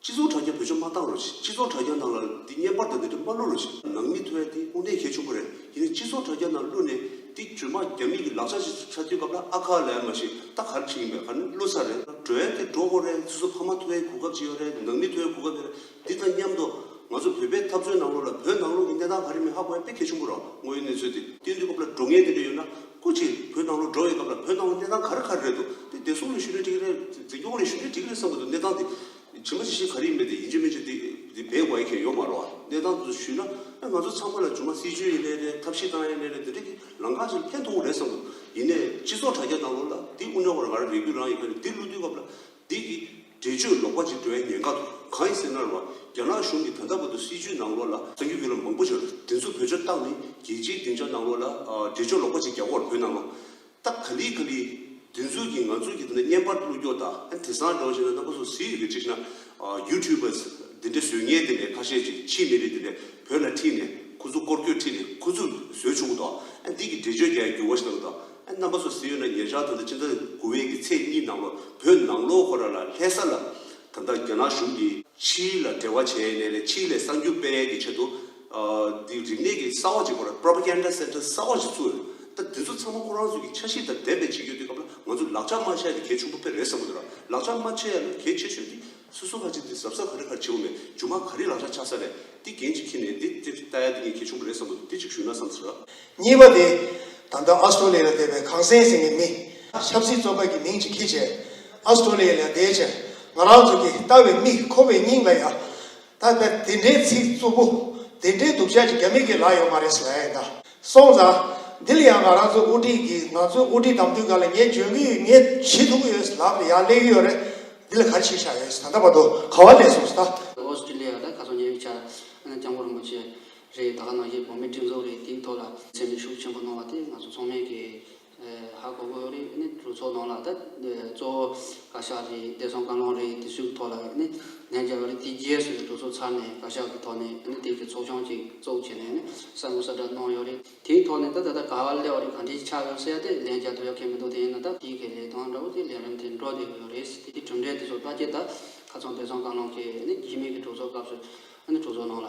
སྤྱི་ཚོགས་དྲ་རྒྱ་བོད་ཆོས་མ་བཏང་རོགས་སྤྱི་ཚོགས་དྲ་རྒྱ་ནང་ལ་འདི་བརྙན་པར་དང་འདི་འདྲ་མ་བླུགས་རོགས་ནང་མི་ཐོས་འདི་དངོས་གནས་གལ་ཆུང་པོ་རེད་ཡིན་ན་སྤྱི་ཚོགས་དྲ་རྒྱ་ནང་བླུགས་ནས་འདི་བྱོས་མ་རྒྱ་མི་གི་ལག་ཆ་ཞིག་ཆགས་དུས་སྐབས་ལ་ཨ་ཁ་ལས་མ་ཤེས་ད་ག་རེ་བྱེད་ཀྱིན་པའི་ག་ནི་བླུགས་ཚར་རེད་གྲོལ་ཏེ་འགྲོ་དགོས་རེད་སུ་སུ་ཕ་མ་ཐོས་གུས་སྐབས་ཅིག་ཡོད་རེད་ནང་མི་ཐོས་གུས་སྐབས་ཡོད་རེད། འདི་དང་མཉམ་དུ། ང་ཚོ་བོད་པའི་འཐབ་རྩོད་ནང་ལོགས་ལ་བོད་ནང་ལོགས་ཀྱི་གནས་སྟངས་ག་རེ་མིན་ཧ་གོ་ཡ་དཔེ་གལ་ཆེན་པོ་ར་དངོས་ཡོད་གནས་ཚུལ་དེ་སྟོན་དུས་སྐབས་ལ་འགྲོ་ངེས་དེ་འདྲ་ཡོད་ན་སྐུ་ཕྱིར་བོད་ནང་ལོགས་འགྲོ་བའི་སྐབས་ལ་བོད་ནང་ལོགས་གནས་སྟངས་ག་རེ་ག་རེ་རེད་འདུག་དེ་བདེ་སྲུང་ལ་ཞུ་ནས་འགྲིག་གི་རེད་འཛིན་སྐྱོང་ལ་ཞུ་ནས་འགྲིག་གི་རེད་བསམ་གི་འདུག་གནས་སྟངས་དེ་ཇི་མ་ཇི་བཞིན་ག་རེ་ཡིན་པ་དེ་ཡིན་ཆོད་མིན་ཆོད་དེ་བེད་དགོས་ཡ་མཁན་ཡོད་མ་རོགས་གནས་སྟངས་དེ་ཚོ་ཞུས་ན་ཨ་ང་ཚོ་ཚང་མ་ལ་ཇུ་མ་སྲིད་ཇུས་ཡིན་ནའི་རེད་ཐབས་ཤེས་བཏང་ཡ་ནའི་རེད་དེ་འདྲ་གི་ལང་ཀ་ཞིག་ཕན་ཐོག་རེད་བསམ་གི་འདུག་ཡིན་ནའི་སྤྱི་ཚོགས་དྲ་རྒྱ་ནང་ལོགས་ལ་འདི་དབུ་འདྲ་བར་ག་རེ་རེད་རྒྱུ་རང་ཡིན་ག་རེ་འདི་བསླུ་དུས་སྐབས་ལ་འདི་གི། འགྲེལ་བརྗོད་ལོག་པ་ཅིག་འགྲོ་ཡ་ཉེན་ཁ་འདུག་གང་ཡིན་ཟེར་ན་རུ་བ་རྒྱ་ནག་གཞུང་གིས་ད་ལྟ་བར་དུ་སྲིད་བྱུས་ནང་ལོག་ལ་བཙན་བསྐྱོད་ཡོད་ལ་མང་པོ་ཞིག་ལ་དེ་ཚོ་བོད་ཆོལ་སྟག་ནི་རྒྱལ་སྤྱིའི་སྡིངས་ཆ་ནང་ལོག་ལ་འགྲེལ་བརྗོད་ལོག་པ་ཅིག་རྒྱ་ཁོག་ལ་བོད་ནང་ལོག་སྟག་ག་ལི་ག་ལི་དེ་ཚོ་གིས་ང་ཚོ་གིས་ད་ནི་བརྙན་པར་གླུ་སྐྱོག་དང་ཨ་དེ་སང་སྒྲོག་བྱས་ན་རྣམ་པ་ཚོ་ཟིག་ཡོད་གི་ཅིག་ཤེས་ན YouTubers དེ་འདྲའི་ཟོལ་ངན་དེ་འདྲའི་ཁ་ཤས་ཅིག་ཕྱི་མི་རིགས་དེ་འདྲས་བོད་ལ་ཁྲིད་ནས་ཁོ་ཚོ་སྐོར་སྐྱོད་ཁྲིད་ནས་ཁོ་ཚོས་བཟོས་བྱུང་བ་དང་ཨ་འདི་གི་འགྲེལ་བརྗོད་རྒྱ་ཡི་འགྱུར་བ་ཞིག་གནང་གི་དང་རྣམ་པ་སོགས་ཟིན་ཡོད་ན་ཉེ་ཆར་ད་ལྟ་ཕྱི་ཟླ་དགུ་བའི་གི་ཚེས་གཉིས་ནང་ལོ་བོད་ནང་ལོ་འཁོར་ར་ལ་ལྷས་ས་ལ་ད་ལྟ་རྒྱ་ནག་གཞུང་གིས་ཆིའི་ལ་འབྲེལ་བ་བྱས་ནས་ལས་ཆིའི་ལས་གསར་འགྱུར་སྤེལ་ཡས་གི་ཆེད་དུ་འདི་རིག་གནས་གི་ས་འོག་ཅིག་སྐོར Propaganda Center གསར་བ་ཅིག་བཙུགས་ཡོད། ད་འདི་ཚོ་ཚང་མ་ཁོ་རང་ཚོ་གི་ཆ་ཤིས་དང་ལྡན་པའི་ཅིག་ཡོད་དུས་སྐབས་ལ་ང་ཚོ་ལག་ཆ་མ་ཆ་ཡས་དེ་གལ་ཆུང་པོ་ཕེ་རེད་བསམ་གི་འདུག་ར་ལག་ཆ་མ་ཆ་ཡས་ལ་གལ་ཆེ་ཤོས་དེ་སུ་སུ་ཁ་ཅིག་འདི་ཟབ་ས་ག་རེ་ཁར་བྱེའུ་མེད་ཇོ་མ་ག་རེ་ལག་ཆ་ཆག་ས་རེད་འདི་རྒན་གཅིག་ཁྱེད་ནས་འདི་ཏེ་རྟ་ཡ་འདི་ངས་ཁྱེད་ཆུང་པོ་རེད་བསམ་འདུག་འདི་གཅིག་ཞུས་ན་བསམ་ཚར། གཉིས་པ་དེ། ད་ལྟ་ཨཱ་སྟྲོ་ལི་ལ་སྡད་པའི་གངས་སེང་སེང་གི་མི། ཆབ་སྲིད་བཙོག་པ་གི་མིང་ཅིག་ཁྱི་བྱས། ཨཱ་སྟྲོ་ལི་ཡ་ལ་སྡད་ཕྱིར་ང་རང་ཚོ་གི་ལྟ་བའི་མིག་ཁོ་བའི་སྙིང་ལ་ཡ། ད་ད་དེ་འདྲའི་ཚིག་རྩུབ་པོ། དེ་འདྲའི་སྡུག་ཅག་ཅིག་རྒྱ་མི་གི་ལ་ཡོད་མ་རེད་ས་ཡ་ཨེ་ད། སོང་ཙང། འདི་ལ་ཡང་ང་རང་ཚོ་དབུ་ཁྲིད་ཀྱིས་ང་ཚོའི་དབུ་ཁྲིད་དམ་འབུལ་སྒར་ལ་ངས་འབྱོན་གྱི་ཡོད་ངས་བྱེད་ཐུབ་ཀྱི་ཡོད་ལག་ཏུ་ཡག་སླེབས་ཀྱི་ཡོད་རེད། འདི་ལ་ག་རེ་བྱེད་བཞག་ཡོད་ད་ལྟ་བར་དུ་ག་བ་ལས་སོང་ཟེར་ན། ཨོ་སི་ཀྲི་ལི་ཡ་ལ་ག་ཚོད་ཉེ་བའི་ཆར་ཨ་ནེ་ལྕམ་སྐུ་རིན་པོ་ཆེ་རེད་ད་ག་ནང་བཞིན་བོད་མིའི་སྒྲིག་འཛུགས་རེད་དེའི་ཐོག་ལ། ཚད་མའི་ཤུགས་ཆེན་པོ་གནང་བ་དེ་ང་ཚོ་ཚང་མས་ཀྱི། ཧ་གོ་གོ་རེད་ནི་རུ་ཚོགས་ནང་ལ་ད་གཙོ་བོ་བཀའ་ཤག་རེད་བདེ་སྲུང་བཀའ་བློན་རེད་དེ་ཚོའི་ཐོག་ལ་ནི་ལན་རྒྱབ་པ་རེད་དེའི་རྗེས་སུ་རུ་ཚོགས་ཚར་ནས་བཀའ་ཤག་གི་ཐོག་ནས་ནི་དེ་གི་ཚོགས་ཆུང་གཅིག་བཙུགས་བྱས་ནས་ནི་གསར་འགོད་གསར་བསྒྲགས་གནང་ཡོད་རེད་དེའི་ཐོག་ནས་ད་ད་ལྟ་ག་བ་སླེ་བ་རེད་ག་འདྲའི་ཆགས་ཡོད་ཟེར་ཏེ་ལན་རྒྱབ་ཐུབ་ཡོད་མཁན་མི་འདུག་དེ་ཡིན་ན་ད་དེའི་གི་ལས་དོན་འདྲ་བོ་དེ་ལས་རིམ་དེ་འགྲོ་བསྡད་ཀི་ཡོད་རེད་དེའི་གྲུབ་འབྲས་དེ་ཚོ་ལྟ་ཀྱི་ད་ཁ་ཚོན་བདེ་སྲུང་བཀའ་བློན་གི་ནི་རྒྱུས་མེད་ཀི་གྲོས་ཚོགས་སྐབས་སུ་ནི་གྲོས་ཚོགས་ནང་ལ།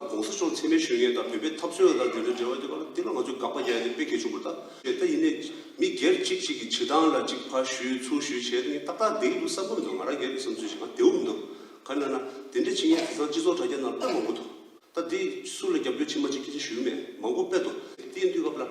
ྋགོང་ས་མཆོག་མཚན་མའི་ཤུལ་ངལ་དང་བོད་པའི་འཐབ་རྩོད་རང་དགར་འབྲེལ་འདྲའི་འབྲེལ་བ་དེ་བར་དེ་ལ་ང་ཚོས་དགག་པ་རྒྱག་རྒྱུ་དཔེ་གལ་ཆུང་བ་དག་རེད་ད་ཡིན་ནས་མི་སྒེར་གཅིག་གཅིག་གི་བྱེད་སྟངས་ལ་གཅིག་ཕར་ཞུས་ཚུར་ཞུས་བྱས་ནས་ཏག་ཏག་བསྡད་ཀྱི་འདུག་བསམ་ཀུན་མི་འདུག་ང་རང་སྒེར་གྱི་བསམ་ཚུལ་ཞིག་ང་བདེའོ་མི་འདུག་ག་ན་ན་དེ་འདྲའི་བྱེད་ངེས་དེ་སང་སྤྱི་ཚོགས་དྲ་རྒྱ་ནང་དཔེ་མང་པོ་འདུག་ད་དེ་སུ་ལ་རྒྱབ་སྐྱོར་ཕྱི་མ་ཅིག་ཁྱེད་ཅག་ཞུས་མེད་མང་པོ་དཔེ་འདུག་དེའི་དུས་སྐབས་ལ།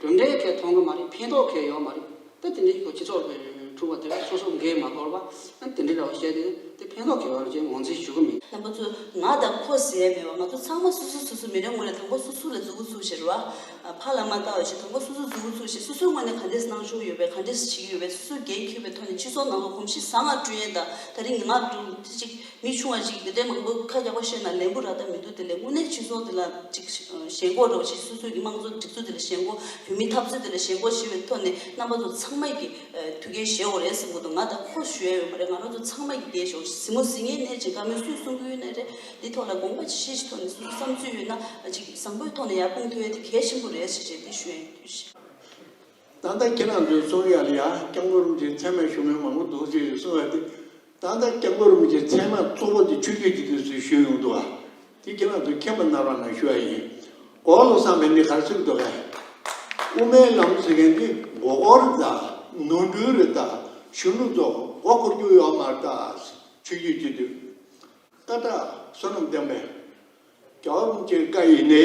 གྲུབ་འབྲས་ཁེ་མཐོང་གི་མ་རེད་ཕན་ཐོག་ཁེ་ཡོད་མ་རེད་དེ་དེ་འདྲའི་ཁོ་སྤྱི་ཚོགས་ལ་ཕྲུག་པ་དེ་སོ་སོ་འགས་མ་གོར་བ་ཨ་དེ་འདྲའི་ར་བ་བཤད་དེ་དེ་ཕན་ཐོག་ཁེ་ཡོད་རེད་ཅེས་ངོ་འཛིན་ཞུ་གི་མིན། དང་པོ་ཚོ་ང་དང་ཁོ་ཟེར་མེད་པར་ང་ཚོ་ཚང་མ་སོ་སོ་སོ་སོའི་མི་རེ་ངོ་རེ་དང་པོ་སོ་སོ་ལ་རྫུ་གུ་ཚུགས་ཞེས་ར་བ་ཕ་ལ་མ་ལྟ་བ་ཞིག་དང་པོ་སོ་སོ་རྫུ་གུ་ཚུགས་ཞེས་སོ་སོའི་ངོས་ནས་ག་འདྲས་གནང་ཞོར་ཡོད་པའི་ག་འདྲས་བྱེད་ཀྱི་ཡོད་པའི་སོ་སོའི་འགན་འཁྱུད་པའི་ཐོག་ནས་སྤྱི་ཚོགས་ནང་ལ་གོམས་གཤིས་བཟང་ང་སྤྲོད་ཡན་དང་ད་རིང་ངག་ཏུ་ཅིག་མི་ཆུང་བ་ཞིག་གིས་དེ་འདྲའི་མང་པོ་ཁ་རྒྱག་པ་བཤད་ན་ལན་བུ་རག་ཐབས་མི་འདུག་དེ་ལས་དངོས་གནས་སྤྱི་ཚོགས་འདི་ལ་ཅིག་ཞེན་སྒོ་འགྲོ་བ་ཞིག་སོ་སོས་ཀྱི་དམངས་གཙོ་སྒྲིག་འཛུགས་འདི་ལ་ཞེན་སྒོ་བོད་མིའི་འཐབ་རྩོད་འདི་ལ་ཞེན་སྒོ་ཞེས་པའི་ཐོག་ནས་རྣམ་པ་ཚོ་ཚང་མ་ཀྱིས་དུས་རྒྱལ་ཞེ་འོ་རེད་བསམ་གོ་འདུག་ང་ད་ཁོ་ཞུ་ཡ་ཡོད་མ་རེད་ང་རང་ཚོ་ཚང་མ་ཀྱིས་རྒྱལ་ཞེ་འོ་གཟིགས་མོ་གཟིགས་ངའི་ནད་ཅིག་དགའ་མོས་སུས་གསུང་གི་ཡོད་ནི་རེད་འདི་ཐོག་ལ་དགོངས་པ་ཇི་བཞེས་ཀྱི་ཐོག་ནས་གསུང་བསམ་ཚུལ་ཡོད་ན་ཅིག་བཟང་པོའི་ཐོག་ནས་ཡར་སྤུངས་ཐུ་ཡ་དེ་གལ་ཆེན་པོ་རེད་ཞེས་འདི་ཞུ་ཡ་ཡིན། ད་ལྟ་ཁྱེད་རང་ཚོའི་རྩོམ་ཡིག་ལ་ཡར་བསྐྱངས་སྒོ་རུ་འདིར་ཚད་མའི་ཞུ་མོལ་མང་པོ་འདུག་ཅེས་གསུང་བ་དེ། ད་ལྟ་སྐྱབས་འགྲོ་རིན་པོ་ཆེ་ཚད་མ་གཙོ་བོ་འདི་ཆོས་རྒྱུད་ཀྱི་དུས་སུ་ཞུས་ཡོང་འདུག་ག་དེ་གྱི་ནང་དུ་མཁན་པོ་རྣམ་རང་ལ་ཞུ་བ་ཡིན། འོག་ལོ་བསམ་པའི་མི་གར་ཚུགས་འདུག་ག། དབུ་མའི་ལམ་ཟེར་མཁན་འདི་མགོ་སྐོར་རེ་དང་ནོར་འཁྲུལ་རེ་དང་གཞོན་ནུ་ཚོ་མགོ་སྐོར་རྒྱུ་ཡོད་མ་རེད་དཱ། ཆོས་རྒྱུད་ཀྱི་དུས་སྐ་བྲག་བསོད་ནམས་བསྟན་པའི་སྐྱབས་འགྲོ་རིན་པོ་ཆེའི་བཀའ་ཡིས་ནི།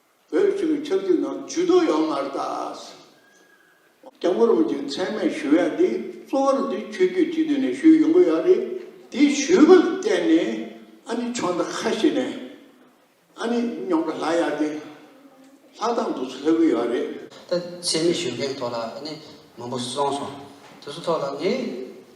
བོད་ཕྲུ་གུའི་ཆབ་སྲིད་ནང་ཇུས་གཏོགས་ཡོང་མ་རེད་དཱ། སྐྱབས་མགོན་རིན་པོ་ཆེ་མཚན་སྨད་ཞུ་ཡག་འདི་གཙོ་བོར་འདི་ཆོས་རྒྱུད་སྤྱི་འཐུས་ནས་ཞུས་ཡོང་གི་ཡག་རེད་དེ་ཞུས་པ་ལ་བརྟེན་ནས་ཨ་ནི་ཆོས་མཐའ་ཁ་ཤས་ནས་ཨ་ནི་རྙོག་དྲ་ལྷག་ཡག་དེ་ལྷག་དང་འདུག་ཚུལ་ལྷག་གི་ཡག་རེད། ད་ཆེད་མི་ཞུ་མཁན་ཐོག་ལ་ཨ་ནི་མང་པོ་སོང་སོང་དེ་ཚོ་ཐོག་ལ་ངས།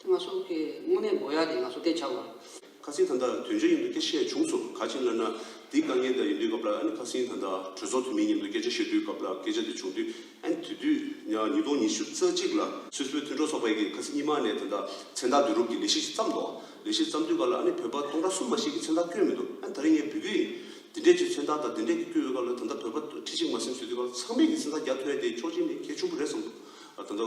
དེ་ང་སོགས་ཀྱི་དངོས་གནས་མགོ་ཡག་དེ་ང་སོགས་བལྟས་ཆགས་པ། ཁ་སིང་ད་ལྟ་དོན་ཆ་ཡིན་འདུག་སྐད་བཤད་བྱུང་སོ་ག་ཅིང་ལབ་ན་དེའི་དཀའ་ངལ་འདྲ་ཡིན་དུས་སྐབས་ལ་ཨ་ནི་ཁ་སིང་ད་ལྟ་གྲོས་ཚོགས་འཐུས་མི་མཉམ་དུ་སྐད་ཆ་བཤད་དུས་སྐབས་ལ་སྐད་ཆ་དེ་བྱུང་དུས་ཨ་ནི་དུས་དུས་ཉག་ཉིས་སྟོང་ཉི་ཤུ་རྩ་གཅིག་ལ་སུད་སི་བོད་མཐུན་གྲོས་ཚོགས་པའི་གི་ཁ་སིང་གཉིས་མ་ནས་ད་ལྟ་མཚན་རྟགས་བསྡུ་རུབ་ཀྱི་ལས་གཞི་ཞིག་བརྩམས་འདུག་ལས་གཞི་བརྩམས་དུས་སྐབས་ལ་ཨ་ནི་བོད་པ་སྟོང་ཕྲག་གསུམ་མ་ཞིག་གི་མཚན་རྟགས་བསྐྱོན་མི་འདུག་ཨ་ནི་ད་རིང་ངས་འབུལ་གྱི་ཡིན་དེ་འདྲས་ཀྱི་མཚན་རྟགས་དང་དེ་འདྲས་ཀྱི་བསྐྱོན་ཡོད་སྐབས་ལ་ད་ལྟ་བོད་པ་ཁྲི་གཅིག་མ་སིམ་ཟོས་དུས་སྐབས་ཚང་མས་གི་མཚན་རྟགས་རྒྱག་ཐོས་ཏེ་ཆོག་ཅིང་ནི་གལ་ཆུང་པོ་རེད་བསམ་འདུག། ད་ལྟ་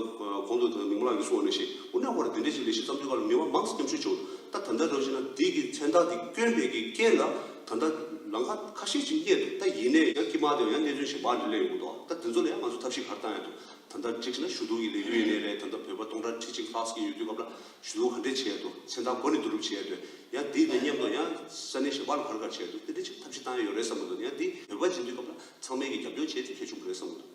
གོང་དུ་ནུབ་མོ་ལགས་ཀྱིས་གསུངས་བ་ནས་བཤད་དབུ་ནག་བར་འདི་འདྲའི་ཞིག་ལས་གཞི་བརྩམས་ཆོས་པར་མི་དབང་མང་སྙམ་ཤུགས་བྱུང། ད་ད་ལྟ་རང་བཞིན་ན་འདི་གི་མཚན་རྟགས་འདི་སྐྱོན་མེད་ཀྱི་རྐྱེན་ལ་ད་ལྟ་ལམ་ཁ་ཁ་ཤས་ཅིག་རྙེད་འདུག་ད་ཡིན་ནའི་ཡང་ཀི་མ་དེ་བ་ཡང་གནས་ཚུལ་ཞིག་བག་འདྲེ་ལས་ཡོང་གི་འདུག་ད་དེ་ཚོ་ལ་ཡང་ང་ཚོས་ཐབས་ཤིག་གར་བཏང་ཡང་འདུག་ད་ལྟ་བསྒྲིགས་ན་ཞུ་གཏུག་གི་ལས་འགུལ་ཡིན་ནའི་རེད་ད་ལྟ་བོད་པ་སྟོང་ཕྲག་ཁྲི་གཅིག་ལྷག་ཟིག་ཡོད་དུས་སྐབས་ལ་ཞུ་གཏུག་ག་འདྲས་བྱས་འདུག་མཚན་རྟགས་གོ་ནས་བསྡུ་རུབ་བྱས་འདུག་ཡང་འདི་ལས་སྙམ་དུ་ཡང་ས་གནས་ཞེ་པག་ལ་གར་གར་བྱས་འདུག་དེ་འདྲའི་ཆེད་ཐབས་ཤིག་བཏང་ཡ་ཡོད་རེད་བསམ་གི་འདུག་ཡང་འདི་བོད་པ་སྦྱིན་དུས་སྐབས་ལ་ཚང་མས་ཀྱི་རྒྱབ་སྐྱོར་བྱས་ཏེ་ཁྱེར་བྱུང་བ་རེད་བསམ་གི་འདུག།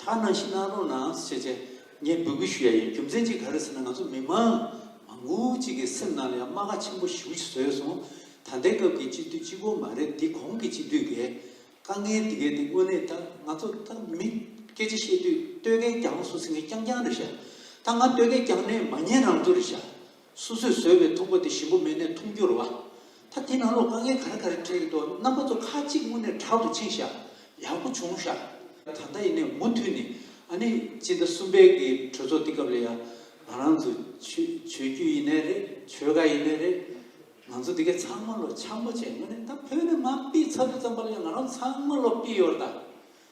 ཐ་ན་ཕྱི་ནང་ལྷོ་ནང་སུ་བྱས་བྱས་ངས་འབོད་སྐུལ་ཞུ་ཡ་ཡིན་རྒྱུ་མཚན་གཅིག་ག་རེ་ཟེར་ན་ང་ཚོ་མི་མང་མང་བོ་གཅིག་གི་སེམས་ནང་ལ་ཡང་རྨ་ཁ་ཆེན་པོ་ཞིག་བཟོས་ཡོད་སོང་ད་ལྟའི་སྐབས་ཀྱི་སྤྱི་འཐུས་གཅིག་པོ་མ་རེད་དེ་གོང་གི་སྤྱི་འཐུས་འགས་དཀའ་ངལ་འདི་གས་དེ་དངོས་གནས་ད་ང་ཚོ་ད་མི་སྐད་ཆ་བཤད་དུས་སྟོད་སྐད་རྒྱང་སུ་སིང་གི་རྐྱང་རྐྱང་རེ་བཤད་ད་ང་སྟོད་སྐད་རྐྱང་ནས་མ་ཉན་རང་ཚོ་རེ་བཤད་སོ་སོས་བཟོས་པའི་ཐུམ་པ་དེ་ཞིམ་པོ་མེད་ནས་འཐུང་རྒྱུར་བ། ད་དེ་ནང་ལོགས་དཀའ་ངལ་ག་རེ་ག་རེ་འཕྲད་ཀྱི་འདུག་རྣམ་པ་ཚོ་ཁ་གཅིག་དངོས་གནས་དྲག་ཏུ་ཕྱིན་ཤག་ཡག་པོ་བྱུང་ཤག། ད་ལྟ་ཡིན་ནའི་མུ་མཐུད་ནས་ཨ་ནི་སྤྱི་ཟླ་གསུམ་པའི་གི་གྲོས་ཚོགས་འདི་སྐབས་ལ་ཡ་ང་རང་ཚོ་ཆོས་རྒྱུད་ཡིན་ནའི་རེད་ཆོལ་ཁ་ཡིན་ནའི་རེད་ང་ཚོ་འདི་ག་ཚང་མ་ལོ་འཆམ་པོ་བྱས་དངོས་གནས་ད་བོད་ནས་མ་སྤིས་ཚར་བུ་ཙམ་པར་ལ་ང་རང་ཚང་མ་ལོ་སྤིས་ཡོར་ད།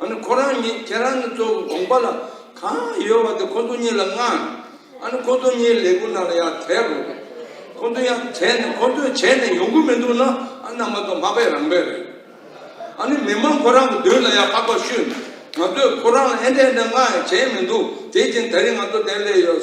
ཨ་ནི་ཁོ་རང་ཉིད་ཁྱེད་རང་གི་གཙོ་བོ་དགོངས་པ་ལ་གང་ཡོད་བ་དེ་ཁོ་ཚོ་གཉིས་ལ་མངགས། ཨ་ནི་ཁོ་ཚོ་གཉིས་ལས་གུ་ན་ལ་ཡང་དེ་རུ་རེད། ཁོ་ཚོ་ཡང་བྱས་ནས་ཁོ་ཚོས་བྱས་ནས་ཡོང་གི་མི་འདུག་ན་ཨ་ནི་མ་གཏོགས་མ་པའི་རང་དཔེ་རེད། ཨ་ནི་མི་མང་ཁོ་རང་གི་མདུན་ལ་ཡང་ཧ་གོ་ཤོད་ནས་ང་ཚོས་ཁོ་རང་ལ་ཨེ་འདྲས་འདྲས་མངགས་ཡང་བྱས་མི་འདུག་དེ་བཞིན་ད་རིང་ང་ཚོ་དེ་ལས་ཡོད།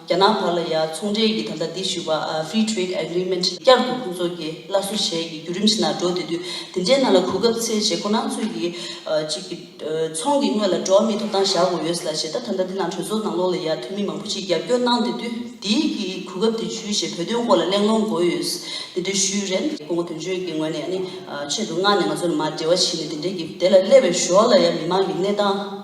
རྒྱ་ནག་བར་ལ་ཡང་ཚོང་འབྲེལ་གྱི་དམ་བསྒྲགས་འདི་ཞུ་བ Free Trade Agreement བསྐྱར་དུ་ཁོང་ཚོ་གྱི་སླར་གསོ་བྱས་ཀྱི་བརྒྱུད་རིམ་ཞིག་ནང་འགྲོ་དེ་དུས་དེ་འདྲའི་ནང་ལ་གོ་སྐབས་ཚེས་བྱེད་ཁོ་ནང་ཚོས་ཀྱི་གཅིག་གི། ཚོང་གི་དངོས་ལ་འགྲོ་བ་མིའི་ཐོབ་ཐང་བཞག་དགོས་ཡོད་སྲིད་ལ་བྱེད་ཐབས་ད་ལྟ་འདི་ནང་གྲོས་ཚོགས་ནང་ལོགས་ལ་ཡང་འཐུས་མི་མང་པོ་ཅིག་རྒྱབ་སྐྱོར་གནང་དེ་དུས་དེའི་གི་གོ་སྐབས་དེ་བྱུས་ཞེས་བོད་དོན་སྐོར་ལ་གླེང་སློང་དགོས་ཡོད་སྲིད་དེ་ཞུས་རན། ཀོང་པོ་དོན་གཅོད་ཀྱི་ངོས་ནས་ནི་ཆེད་དུ་མངགས་ནས་ང་ཚོ་ལ་མ་འབྲེལ་བ་བྱས་ནས་དེ་འདྲའི་གི་དེ་ལ་སླེབས་པའི་ཞོར་ལ་ཡང་མི་མང་གི་གནས་སྟངས།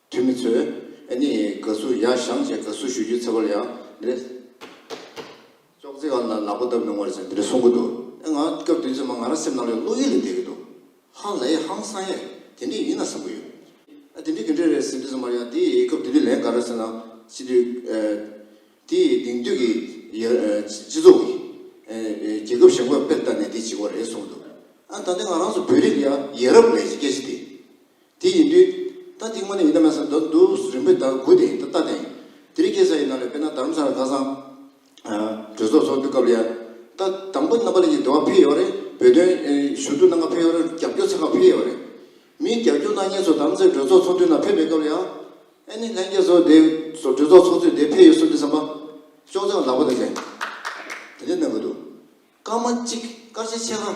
འཐུས་མི་ཚོས་ཨེ་ནི་དགའ་བསུ་ཡ་བཞང་བཅས་དགའ་བསུ་ཞུ་རྒྱུ་ཚེ་བར་ཡང་འདིར་ཅོག་ཙེ་གང་དང་ནག་པོ་བཏབ་མི་འོང་རེད་ཟེར་འདིར་གསུང་གི་འདུག་ཨེ་ང་སྐབས་བདུན་ཚེ་མ་ང་རང་སེམས་ནང་ལས་བློ་ཡུལ་ལས་འདས་ཀྱི་འདུག་ཧ་ལའི་ཧང་སང་ཡས་དེ་འདྲས་ཡིན་ན་བསམ་གི་ཡོད། ཨ་དེ་འདྲས་དེ་འདྲས་རེད་ཟེར་དུས་ཚེ་མར་ཡང་དེའི་སྐབས་དེ་དུས་ལན་ག་རེ་ཟེར་ན་སྤྱི་འཐུས་དེའི་དེང་དུས་ཀྱི་སྤྱི་ཚོགས་ཀྱི་རྒྱལ་ཁབ་ཞེན་ཁོག་དཔེར་བལྟ་ནས་དེ་བྱེད་དགོས་རེད་གསུང་གི་འདུག་ཨ་ད་ལྟའི་ང་རང་ཚོ་བོད་རིགས་ལ་ཡ་ཡས་རབས་ལས་ཀྱི་སྐད་ཆ་དེ། དེ་ཡིན་དུས། རྟ་འདི་དངོས་གནས་ཡིན་ན་མེད་ས་ན་འདུག་འདུག་རིང་པོའི་བརྡར་སྒུག་དེ་ཡིན་དུས་རྟ་དེ་ཡིན། དེ་རིང་སྐྱེས་ས་ཡི་ནང་ལས་དཔེར་ན་དར་མཚོན་ལ་ཁ་སང། གྲོས་ཚོགས་ཚོགས་འདུ་སྐབས་ལ་ཡར། རྟ་དང་པོ་རྣམ་པ་ལན་གྱི་འདུ་བ་འཕེལ་ཡོད་རེད་བོད་དོན། ཞུ་གཏུག་གནང་ཁ་འཕེལ་ཡོད་རེད་རྒྱབ་སྐྱོར་ཚང་ཁ་འཕེལ་ཡོད་རེད། མིའི་རྒྱབ་སྐྱོར་གནང་མཁན་ཚོ་དར་མཚོན་གྲོས་ཚོགས་ཚོགས་འདུའི་ནང་ཕེབས་པའི་སྐབས་ལ་ཡར། ཨེ་ནི་ལྷན་རྒྱས་ཚོ་དེ། གྲོས་ཚོགས་ཚོགས་ཚུད་དེ་འཕེལ་ཡོད་གསུངས་དུས་བསམ་པ། ཅུང་ཙམ་ལ་ལག་པ་དེ་ཚེ། དེ་འདྲའི་གནང་གི་འདུག། སྐར་མ་གཅིག་སྐར་ཆ་ཕྱེད་ཀ།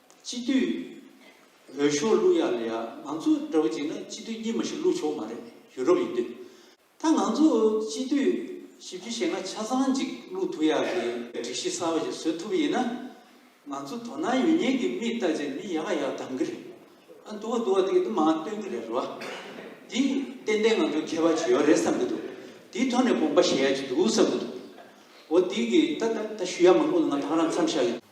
སྤྱི་འཐུས་འོས་ཤོག་བླུག་ཡག་ལ་ཡག་ང་ཚོ་འདྲ་བོ་ཅིག་ན་སྤྱི་འཐུས་གཉིས་མ་ཞིག་བླུག་ཆོག་མ་རེད་ཡུ་རོབ་ཡིན་དུས་ད་ང་ཚོ་སྤྱི་འཐུས་ཞིབ་ཅིག་བྱེད་ན་ཆ་ཚང་ཅིག་བླུག་ཐུབ་ཡག་གི་སྒྲིག་གཞི་གསར་བ་ཞིག་བཟོས་ཐུབ་ཡིན་ན་ང་ཚོ་དོ་སྣང་ཡོད་ཉེན་གི་མིག་བལྟ་ཅིག་མི་ཡག་ཡག་གདམ་གི་རེད་ཨ་འདུག་འདུག་འདི་གི་མང་སྟོན་གི་རེད་རེད་བ་འདི་ཏན་ཏན་ང་ཚོ་མཁས་པ་བྱེད་ཡོག་རེད་བསམ་གི་འདུག་འདི་ཐོག་ནས་དགོངས་པ་བཞེས་ཡག་ཅིག་འདུག་བསམ་གི་འདུག་འོ་འདི་གི་ད་ད་ད་ཞུ་ཡག་མང་པོ་ང་དང་རང་འཚམས་ཤག་གི།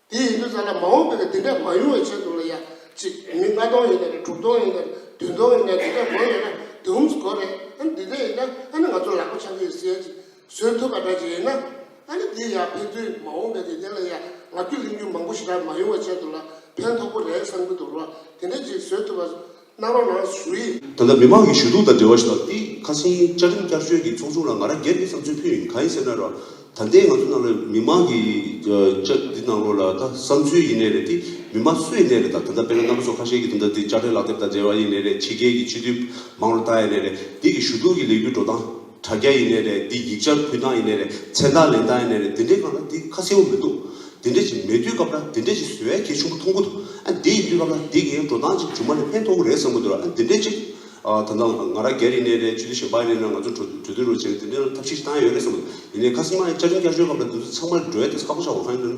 དེ་ཡིན་དུས་ཙང་ལ་མ་འོངས་པའི་འདི་འདྲ་མ་ཡོང་བའི་ཆེད་དུ་ལ་ཡ་གཅིག་མི་ལྔ་སྟོང་ཡོད་ན་རེད་དྲུག་སྟོང་ཡོད་ན་རེད་བདུན་སྟོང་ཡོད་ན་རེད་འདི་འདྲ་མང་ཡོད་ན་དེ་འུམ་གོ་རེད་ཨ་འདི་འདྲ་ཡིན་ན་ཨ་ནི་ང་ཚོ་ལག་པ་འཆང་གི་ཡོད་ཟེར་ཡ་གཅིག་བཟོས་ཐུབ་པ་འདྲ་གཅིག་ཡིན་ན་ཨ་ནི་འདི་ཡ་ཕན་ཚུན་མ་འོངས་པའི་འདི་འདྲ་ལ་ཡ་ང་རྒྱུ་གླེང་རྒྱུ་མང་པོ་ཞིག་ལ་མ་ཡོང་བའི་ཆེད་དུ་ལ་ཕན་ཐོགས་པོ་རེད་བསམ་གྱི་འདུག་ལ་འདི་འདྲ་གཅིག་བཟོས་ཐུབ་པ། སྣང་རོགས་ལགས་ཞུ་ཡིག། ད་ལྟ་མི་མང་གི་ཞུ་གཏུག་དང་འབྲེལ་བ་ཞིག་ལ་ཏི་ཁ་སིན་བཅའ་ཁྲིམས་བསྐྱར་བཅོས་ཀྱི་ཚོགས་ཆུང་ལ་ང་རང་སྒེར་གྱི་བསམ་ཚུལ་ཕུལ་ཡིན་གང་ཡིན་ཟེར་ན་རོགས་ད་ལྟའི་ང་ཚོ་ནང་ལ་མི་མང་གི་བཅའ་འདི་ནང་ལོགས་ལ་ད་བསམ་ཚུལ་ཡིན་ནས་རེད་ཏི་མི་མ་སུ་ཡི་ནས་རེད་ད་ད་ལྟ་དཔེར་ན་རྣམ་པ་ཚོ་ཁ་ཤས་ཀྱི་ད་ལྟ་ཏི་བཅའ་ཁྲིམས་ལག་དེབ་དང་འབྲེལ་བ་ཡིན་ནས་རེད་ཕྱི་རྒྱལ་གྱི་སྤྱི་འཐུས་མང་རུ་ལྟ་ཡི་ནས་རེད་འདི་གི་ཞུ་གཏུག་གི་ལས་འགུལ་འགྲོ་སྟངས། དྲ་རྒྱ་ཡིན་ནའི་རེད་འདི་ཡིག་ཆར་ཕུལ་སྟངས་ཡིན་ནའི་རེད་མཚན་རྟགས་ལེན་སྟངས་ཡིན་ནའི་རེད་འདི་འདྲའི་སྒང་ལ་འདི་ཁ་གསལ་བོ་མི་འདུག་འདི་འདྲའི་ཅིག་མེད་དུས་སྐབས་ལ་འདི་འདྲའི་ཅིག་བཟོ་བའི་གལ་ཆུང་པོ་མཐོང་གི་འདུག་ཨ་འདི་ཡིན་དུས་སྐབས་ལ་འདི་གའི་འགྲོ་སྟངས་ཅིག་ཇུ་མ་ལས་ཕན་མཐོང་གི་རེད་བསམ་གི་འདུག་ཨ་འདི་འདྲའི་ཅིག་ད་ལྟ་ང་ར་རྒྱ་རི་ནའི་རེད་ཆུ་ལི་ཞེན་པ་ཡིན་ནའི་རེད་ང་ཚོ་གྲོ་གྲོས་དུས་རོ་བྱས་ནས་འདི་འདྲའི་ལ་ཐབས་ཤེས་ཅིག་བཏང་ཡོད་རེད་བསམ་གི་འདུག་ཡིན་ནའི་ཁ་སིམ་མ་ཡིན་བཅའ་ཁྲིམས་བསྐྱར་བཅོས་སྐབས་ལ་འདི་ཚོ་ཚང་མ་འགྲོས་དེ་ཁག་པོ་ཆགས་དགོས་ཁ་ཡིན་ནའི།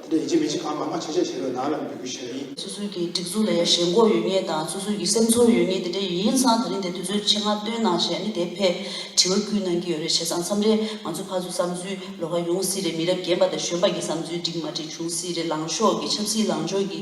དེ་ཡི་གེ་མི་གཅིག་གམ་མང་མ་ཆེ་ཆེ་བྱས་པའི་ནང་ལ་འབུལ་རྒྱུ་ཞེས་པ་ཡིན། སོ་སོའི་གི་སྒྲིག་འཛུགས་ལ་ཡ་ཞེན་སྒོ་ཡོད་ངེས་དང་སོ་སོའི་གི་སེམས་ཚོར་ཡོད་ངེས་དེ་འདྲ་ཡིན་ཡིན་སང་ད་རིང་དེ་དུས་ཚོད་ཆེ་ང་བསྟོན་གནང་ཞེས་ནི་དེ་ཕས་དྲི་བ་ཁུལ་གནང་གི་ཡོད་རེད་བྱས་སང་མཚམས་རེ་ང་ཚོ་ཕ་ཚོ་བསམ་ཚུལ་ལོ་ཁ་ཡོང་སྲིད་རེད་མི་རབས་རྒན་པ་དང་གཞོན་པ་གི་བསམ་ཚུལ་འགྲིག་མ་འགྲིག་བྱུང་སྲིད་རེད་ལངས་ཤོག་གི་ཆབ་སྲིད་ལངས་ཕྱོགས་གི